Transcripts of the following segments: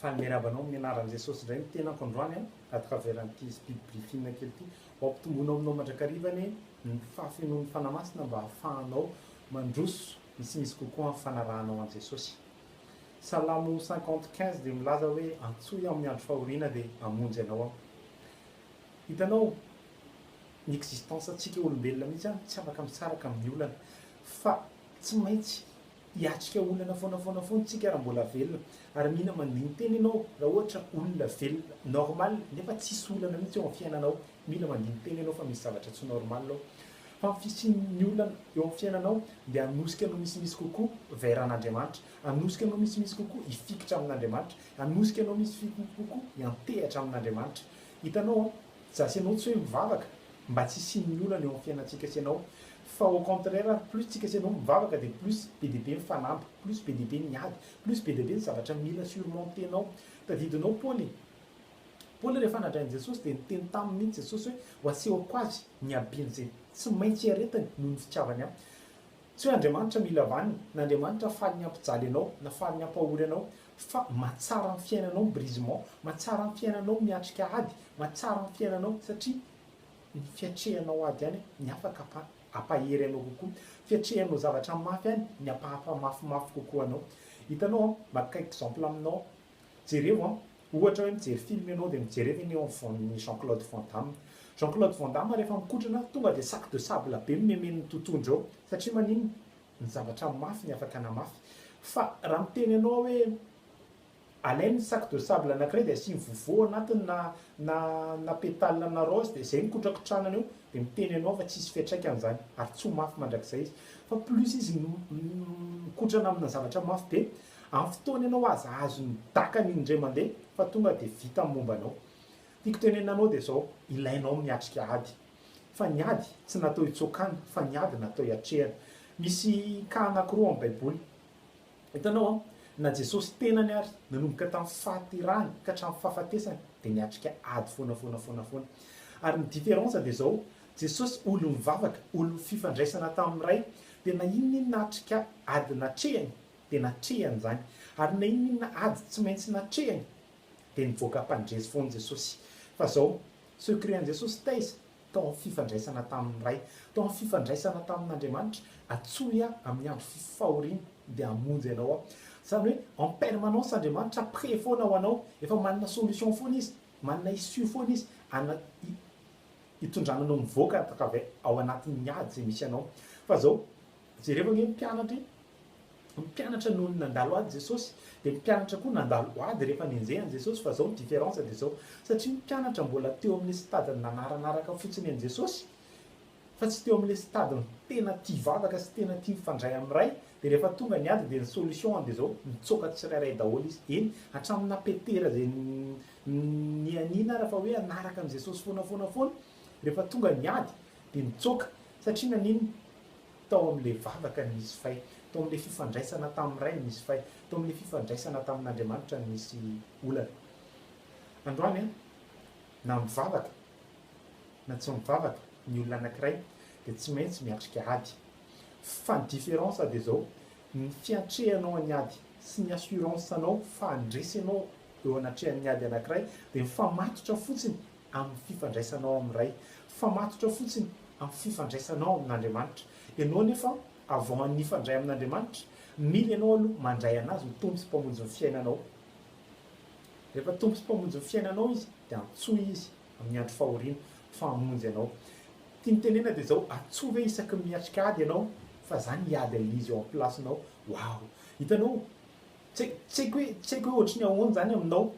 Faly miarahaba anao amin'ny anaran'i Jesosy indray ny tenako androany an! Ato Kaveran'ity speed briefing kely ity, ho ampitombona ao aminao mandrakariva anie ny fahafenoan'ny Fanahy Masina mba hahafahanao mandroso misimisy kokoa amin'ny fanarahanao an'i Jesosy. Salamo cinquante quinze dia milaza hoe antsoy aho amin'ny andro fahoriana dia hamonjy anao aho. Hitanao, ny existence antsika olombelona mihitsy an, tsy afaka misaraka amin'ny olana, fa tsy maintsy Hiatrika olana foana foana foana tsika raha mbola velona ary mila mandini-tena ianao raha ohatra olona velona normal nefa tsisy olana mihitsy eo amin'ny fiainanao mila mandini-tena ianao fa misy zavatra tsy normal ao fa ny fisian'ny olana eo amin'ny fiainanao dia hanosika anao misimisy kokoa vers an'Andriamanitra hanosika anao misimisy kokoa hifikitra amin'Andriamanitra hanosika anao misimisy kokoa hiantehatra amin'Andriamanitra hitanao an? Zase anao tsy hoe mivavaka mba tsy hisian'ny olana eo amin'ny fiainantsika sy ianao Fa au contraire ary plus tsika sy ianao mivavaka dia plus be dia be ny fanamby, plus be dia be ny ady, plus be dia be ny zavatra mila surmonter-nao. Tadidinao Paoly e! Paoly rehefa nandray an'i Jesosy dia niteny taminy mihintsy Jesosy hoe ho asehoko azy ny habeny izay tsy maintsy iaretany noho ny fitiavany ahy. Tsy hoe Andriamanitra mila vaniny, na Andriamanitra faly ny hampijaly anao, na faly ny hampahory anao, fa mahatsara ny fiainanao ny brisement, mahatsara ny fiainanao ny miatrika ady, mahatsara ny fiainanao satria Ny fiatrehanao ady any ny afaka apa apahery anao kokoa. Fiatrehanao zavatra mafy any ny apa apa mafimafy kokoa anao. Hitanao an, maka exemple aminao aho. Jerevo an, ohatra hoe mijery film ianao dia mijerevo eny eo amin'ny voan'ny Jean Claude Van Damme. Jean Claude Van Damme rehefa mikotrana tonga dia sac de sable be nomemen'ny totohondry ao. Satria maninona? Ny zavatra mafy ny afaka anamafy. Fa raha miteny anao aho hoe. Alainy ny sac de sable anankiray dia asiany vovo ao anatiny na na na pétale na rose dia izay no kotrakotranany eo dia miteny anao fa tsisy fiatraikany izany ary tsy ho mafy mandrakizay izy fa plus izy mikotrana amina zavatra mafy be amin'ny fotoana ianao aza azony dakany iny indray mande fa tonga dia vita ny momba anao. Tiako tenenina anao dia izao, ilainao miatrika ady fa ny ady tsy natao hitsokana fa ny ady natao hiatrehana. Misy cas anankiroa amin'ny baiboly. Hitanao an, na Jesosy tenany ary, nanomboka tamin'ny fahaterahany ka hatramin'ny fahafatesany dia niatrika ady foana foana foana foana. Ary ny différence dia izao, Jesosy olon'ny vavaka, olon'ny fifandraisana tamin'ny Ray, dia na inona inona atrika ady natrehany dia natrehany izany, ary na inona inona ady tsy maintsy natrehany dia nivoaka mpandresy foana Jesosy. Fa izao, secret an'i Jesosy taiza? tao amin'ny fifandraisana tamin'ny Ray, tao amin'ny fifandraisana tamin'Andriamanitra, Atsoy aho amin'ny andro fahoriana dia hamonjy anao aho. Izany hoe en permanence Andriamanitra près foana ho anao, efa manana solution foana Izy, manana issue foana Izy ana- hi- hitondrana anao mivoaka avy ao anatin'ny ady izay misy anao. Fa izao, Jereo anie ny mpianatra e! Ny mpianatra nony nandalo ady Jesosy, dia ny mpianatra koa nandalo ady rehefa nenjehany Jesosy, fa zao ny différence dia zao, satria ny mpianatra mbola teo amin'ilay stade-ny nanaranaraka fotsiny an'i Jesosy, fa tsy teo amin'ilay stade-ny tena tia vavaka sy tena tia mifandray amin'ny Ray, dia rehefa tonga ny ady dia ny solution-ny dia zao, mitsoaka tsirairay daholo izy, eny, hatraminà Petera izay nianiana ara fa hoe hanaraka an'i Jesosy foana foana foana, rehefa tonga ny ady dia nitsoaka, satria naninona? tao amin'ilay vavaka ny Misy Fay, tao amin'ilay fifandraisana tamin'ny Ray ny Misy Fay, tao amin'ilay fifandraisana tamin'Andriamanitra ny Misy Olana. Androany an, na mivavaka na tsy mivavaka ny olona anankiray dia tsy maintsy miatrika ady. Fa ny différence dia izao, ny fiatrehanao an'ny ady sy ny assurance-nao fa handresy anao eo anatrehan'ny ady anankiray dia mifamatotra fotsiny amin'ny fifandraisanao amin'ny Ray, fa matotra fotsiny amin'ny fifandraisanao amin'Andriamanitra. Ianao anefa, avant ny hifandray amin'Andriamanitra, mila ianao aloha mandray an'Azy ho Tompo sy Mpamonjy ny fiainanao. Rehefa Tompo sy Mpamonjy ny fiainanao Izy, dia antsoy Izy amin'ny andro fahoriana fa hamonjy anao. Tiany tenena dia izao, Antsoy ve isaky ny miatrika ady ianao, fa izaho ny hiady amin'izy eo amin'ny place-nao. Wow! Hitanao? Tsy haiko hoe, tsy haiko hoe ohatry ny ahoana izany aminao,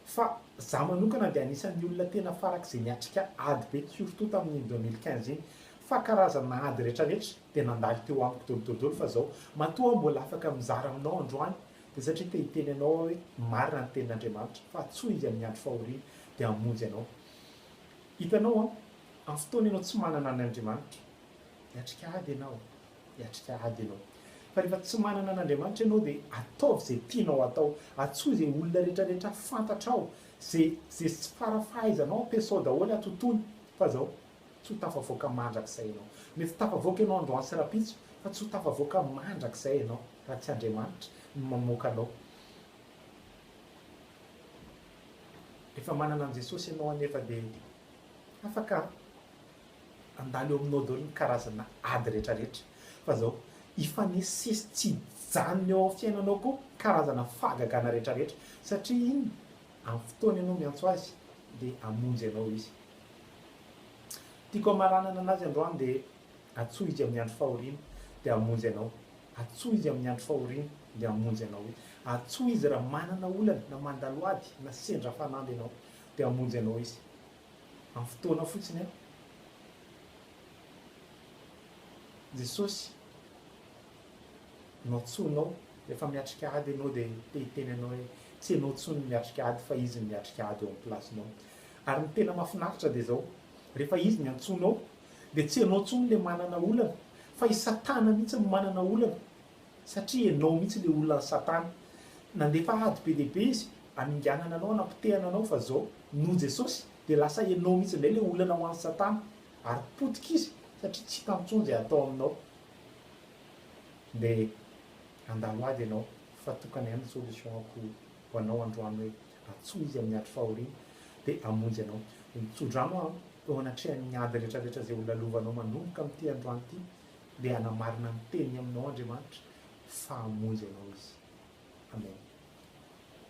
Fa za manokana dia anisan'ny olona tena farak'izay niatrika ady be surtout tamin'iny deux mille quinze iny fa karazana ady rehetra rehetra dia nandalo teo amiko dolo dolo dolo fa zao matoa mbola afaka mizara aminao androany dia satria te hiteny anao aho hoe marina ny tenin'Andriamanitra fa atsoy izy amin'ny andro fahoriana dia hamonjy anao hitanao an amin'ny fotoana ianao tsy manana an'Andriamanitra hiatrika ady ianao hiatrika ady ianao. Fa rehefa tsy manana an'Andriamanitra ianao dia ataovy izay tianao atao, antsoy izay olona rehetrarehetra fantatrao, izay izay tsy fara-fahaizanao ampiasao daholo atontolo fa izao tsy ho tafavoaka mandrakizay ianao. Mety tafavoaka ianao androany sy rahampitso fa tsy ho tafavoaka mandrakizay ianao raha tsy Andriamanitra no mamoaka anao. Rehefa manana an'i Jesosy ianao anefa dia afaka Handalo eo aminao daholo ny karazana ady rehetra rehetra fa zao hifanesisesy tsy hijanona eo amin'ny fiainanao koa karazana fahagagana rehetra rehetra satria iny amin'ny fotoana ianao miantso azy dia hamonjy anao izy. Tiako hamaranana anazy androany dia antsoy izy amin'ny andro fahoriana dia hamonjy anao, antsoy izy amin'ny andro fahoriana dia hamonjy anao izy, antsoy izy raha manana olana na mandalo ady na sendra fanamby ianao dia hamonjy anao izy. Amin'ny fotoana fotsiny aho. Jesosy no antsoinao rehefa miatrika ady ianao dia te hiteny anao hoe tsy ianao intsony no miatrika ady fa izy no miatrika ady eo amin'ny plasinao. Ary ny tena mahafinaritra dia izao, rehefa izy ny antsoinao dia tsy ianao intsony ilay manana olana fa i satana mihitsy no manana olana. Satria ianao mihitsy ilay olona satana nandefa ady be dia be izy haminganana anao hanapotehana anao fa zao noho Jesosy dia lasa ianao mihitsy indray ilay olana ho an'i satana ary potika izy satria tsy hitany intsony izay hatao aminao dia handalo ady ianao fa tokana ihany ny solution-ko ho anao androany hoe antsoy izy amin'ny andro fahoriana dia hamonjy anao tso-drano aho eo anatrehan'ny ady rehetra rehetra izay ho lalovanao manomboka amin'ity androany ity dia hanamarina ny teniny aminao Andriamanitra fa hamonjy anao Izy. Amen.